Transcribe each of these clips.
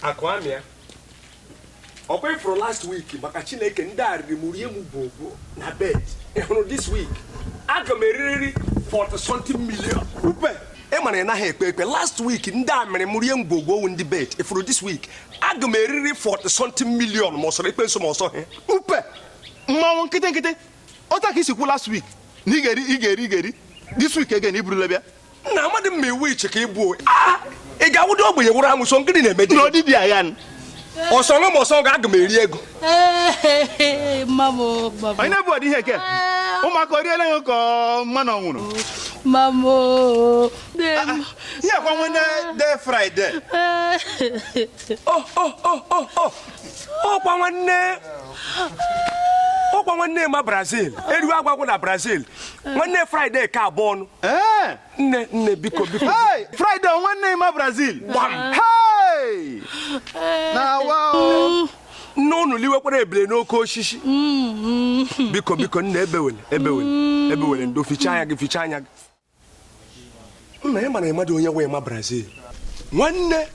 akụ amịa ọkwa ị fụrụ last week maka chineke ndị a riri m rie m bụ na bet ị hụrụ this week aga m eririri 40 something million upe ị mara ị naghị ekpe ekpe last week ndị a mere m rie m bụ ogbowu ndị bet ị fụrụ this week aga m eririri 40 something million ma ọ sọrọ ekpe nsọ ma ọ sọghị upe mmanwụ nkịtị nkịtị Otu a ka i si kwuo last week na ị ga-eri ị ga-eri ị ga-eri this week again i burula bịa. Nna amadị m ma iwu iche ka ị bụ ah, ị ga-awụdị ogbenye wụrụ amusu ngịnị na-eme Na ọdị dị agha nụ. ọ sọ nụ ma ọ sọghị aga m eri ego mamo mamo Onye na-ebu ụdị ihe ke? Ụmụaka o riela ya ka ọ mmanụ ọ nwụrụ. mamo nne m Ihe akwa nwanne de Friday. o o o o o ọkwa nwanne ọkwa nwanne emma brazil eriwe agwụ agwụ na brazil nwanne friday ka abụọ ọnụ nne nne biko biko friday nwanne emma brazil gbam na awa nne unu liwekwara ebile n'oke osisi mm-hmm. biko biko nna ebewele ebewele mm-hmm. ebewele ndo ficha anya gị ficha anya gị nna ị mara ị madụ onye wụ emma brazil nwanne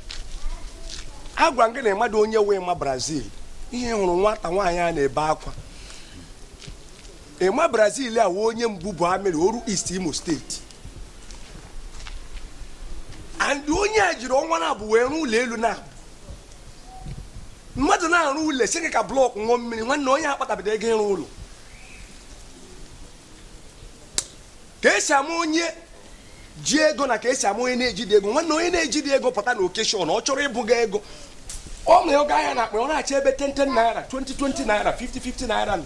agwa gị na ị madụ onye wụ emma brazil ihe hụrụ nwata nwaanyị a na-ebe akwa emma brazil a wụ onye mbubu amiri oru east imo state and onye a jiri ọnwa naabọ wee rụọ ụlọ elu nna mmadụ na-arụ ụlọ sị gị ka blọk ṅụọ mmiri nwanne onye akpatabedị ego ịrụ ụlọ ka esi ama onye ji ego na ka esi ama onye na-ejidị ego nwanne onye na-ejidị ego pụta na occasion ọ chọrọ ịbụga ego o nyo ogo anya na akpa ọ na-achọ ebe 10 10 naira 20 20 naira 50 50 naira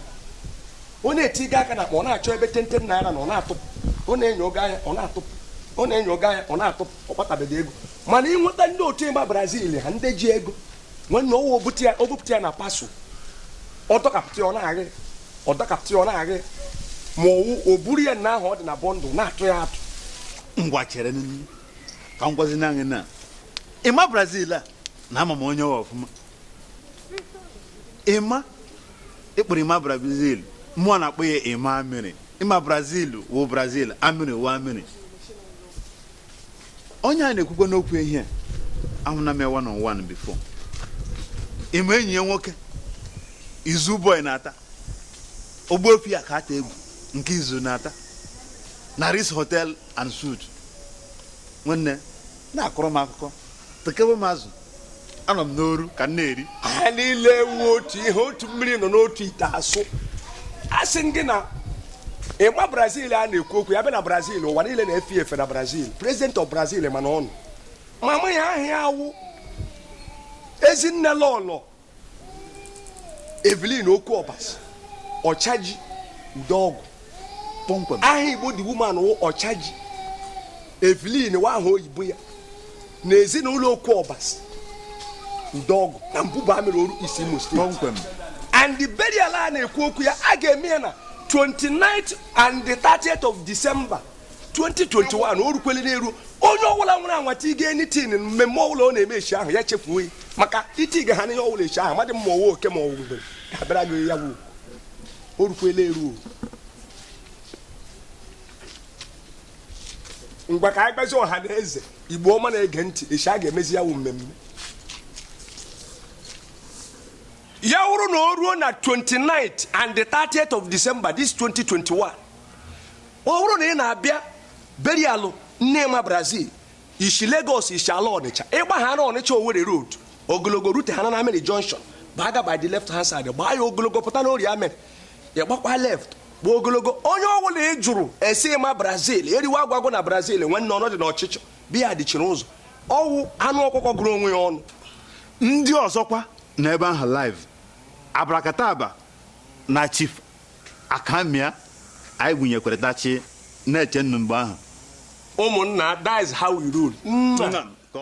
ọ na-etiga aka na akpa ọ na-achọ ebe 10 10 naira nọ ọ na-atụpụ ọ na-enyo ogo anya ọ na-atụpụ ọ na-enyo ogo anya ọ na-atụpụ ọ kpatabedị ego mana i nweta ndị otu emma brazil ha ndị ji ego nwanne ọ wụ o bute ya o bupụta ya na parcel ọ dọkapụta ya ọ na-agha ọ dọkapụta ya ọ na-agha ma ọ wụ o buru ya na ahụ ọ dị na bundle na-atụ ya atụ ngwa chere n'ihu ka m gwazi nụ gị na emma brazil a na ama m onye ọ wụ ọfụma emma ị kpọrọ emma brazil mụwa na-akpọ ya emma amiri emma brazil wụ brazil amiri wụ amiri onye a na-ekwukwa n'okwu ya ahụna m ya one on one before emma enyi ya nwoke izu boy na-ata ogbuefi ya ka ata egwu nke izu na-ata na ritz hotel and suites nwanne na-akọrọ m akụkọ tekewe m azụ anọ m n'oru ka m na-eri ha niile awụ otu ihe otu mmiri nọ n'otu ite asụ asị m gị na Emma brazil a na-ekwu okwu ya bịa na brazil ụwa niile na-efe efe na brazil president of brazil mana ọnwụ mama ya aha ya awụ ezinne lọlọ Evelyn Okwu Ọbasi Ọchaji Udeọgwụ kpọmkwem aha Igbo the woman wụ Ọchaji Evelyn wụ aha oyibo ya na ezinụlọ Okwu Ọbasi Udeọgwụ na Mbubu Amiri Oru East Imo State kpọmkwem and the burial a na-ekwu okwu ya a ga-eme ya na 29th and the 30th of December 2021 o rukwele n'eru onye ọbụla nwere anwa tiga anything mmemme ọbụla ọ na-eme echi ahụ ya chefuo ya maka itiga ha n'ihe ọbụla echi ahụ amadị mma owe oke ma ọwụ mgbe ga-abịara gị ya wuo o rukwele eru ngwa ka anyị gwazi ọha na eze igbo ọma na-ege ntị echi a ga-emezi ya wụ mmemme ya wụrụ na o ruo na 29th and the 30th of December this 2021 Ọ bụrụ na ị na-abịa burial nne Emma Brazil, i si Lagos i si ala Ọnịcha, ị gbaha na Ọnịcha Owerri Road ogologo ruteha na Amiri Junction gbaga by the left hand side gbaa ya ogologo pụta n'Orie Amiri ị gbakwa left gba ogologo onye ọbụla ị jụrụ ese Emma Brazil eriwe agwụ agwụ na Brazil nwanne ọ nọdị n'ọchịchọ beer dịchiri ụzọ ọwụ anụ ọkụkọ gụrụ onwe ya ọnụ ndị ọzọkwa nọ ebe ahụ live abrakataba na chief akamia anyị gụnyekwere dachi na-eche nnu mgbe ahụ ụmụnna that is how we roll Nna.